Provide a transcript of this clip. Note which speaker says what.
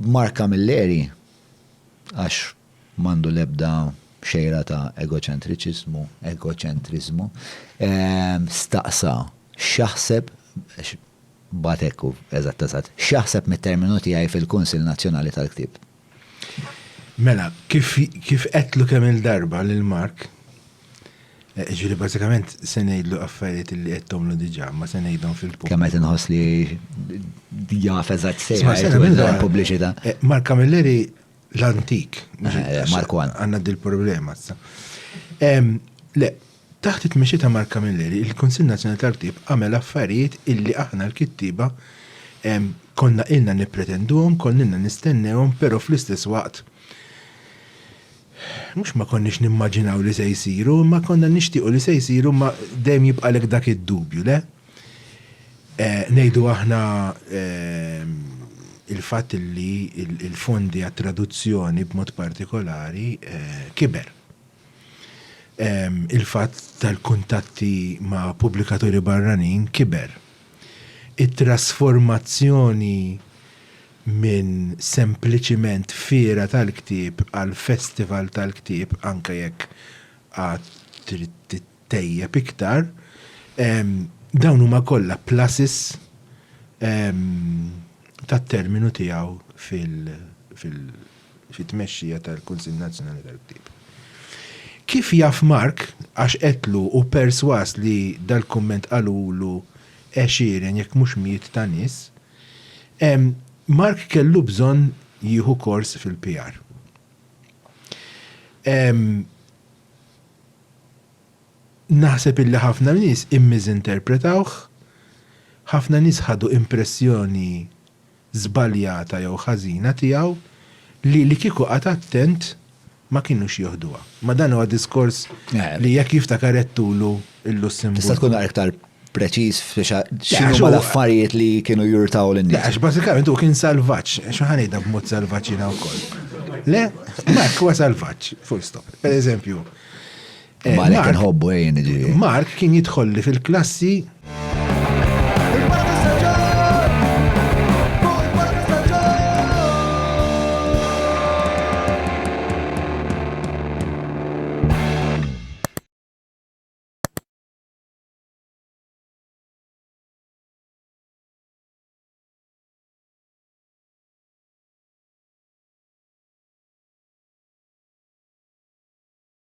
Speaker 1: Mark Camilleri, għax mandu lebda xejra ta' egoċentriċizmu, egoċentrizmu, ehm, staqsa xaħseb batekku eżatt eżatt, xaħseb mit-terminu tiegħi fil-Kunsill Nazzjonali tal-Ktieb. Mela, kif kif qedlu kemm il-darba lil Mark, eh, ġifieri bażikament se ngħidlu affarijiet li qedtomlu diġà, ma se ngħidhom fil-pub. Kemm qed inħoss li jaf eżatt sejħa pubbliċità. Eh, Mark Camilleri l-antik. Eh, Mark Għandna dil-problema. Le, Taħt it-tmexxija ta' Mark Camilleri, il-Kunsill Nazzjonali tal-Ktieb għamel affarijiet illi aħna l-kittieba konna ilna nippretenduhom, konna ilna nistennewhom, però fl-istess waqt mhux ma konniex nimmaġinaw li se jsiru, imma konna nixtiequ li se jsiru imma dejjem jibqalek dak id-dubju, le? Ngħidu aħna il-fatt illi l-fondi għat-traduzzjoni b'mod partikolari kiber. il-fatt tal-kuntatti ma' pubblikaturi barranin kiber. It-trasformazzjoni minn sempliċiment fiera tal-ktieb għal festival tal-ktieb, anke jekk għad trid tittejjeb iktar, dawn huma kollha pluses tat-terminu tiegħu fil-, fit-tmexxija tal-Kunsill Nazzjonali tal-Ktieb. Kif jaf Mark, għax qedtlu u persważ li dal-kumment qalulu għexieren jekk mhux mijiet ta' nies, Mark kellu bżonn jieħu kors fil-PR. Naħseb illi ħafna nies immiżinterpretawh, ħafna nies ħadu impressjoni żbaljata jew ħażina tiegħu li li kieku qagħad attent ma kinux jieħduha. Ma dan huwa diskors li jekk jiftakar għedtulu l-Lussemburgu. Tista' tkun aktar preċiż fi x'inhuma l-affarijiet li kienu jurtaw lin-nies. Le għax bażikament hu kien salvaġġ, xi ħa ngħidha b'mod salvaġġ jiena wkoll. Le, Mark huwa salvaġġ, full stop. Pereżempju, Eh, Malek nħobbu ejjen eh, ġiri. Mark kien jidħolli fil-klassi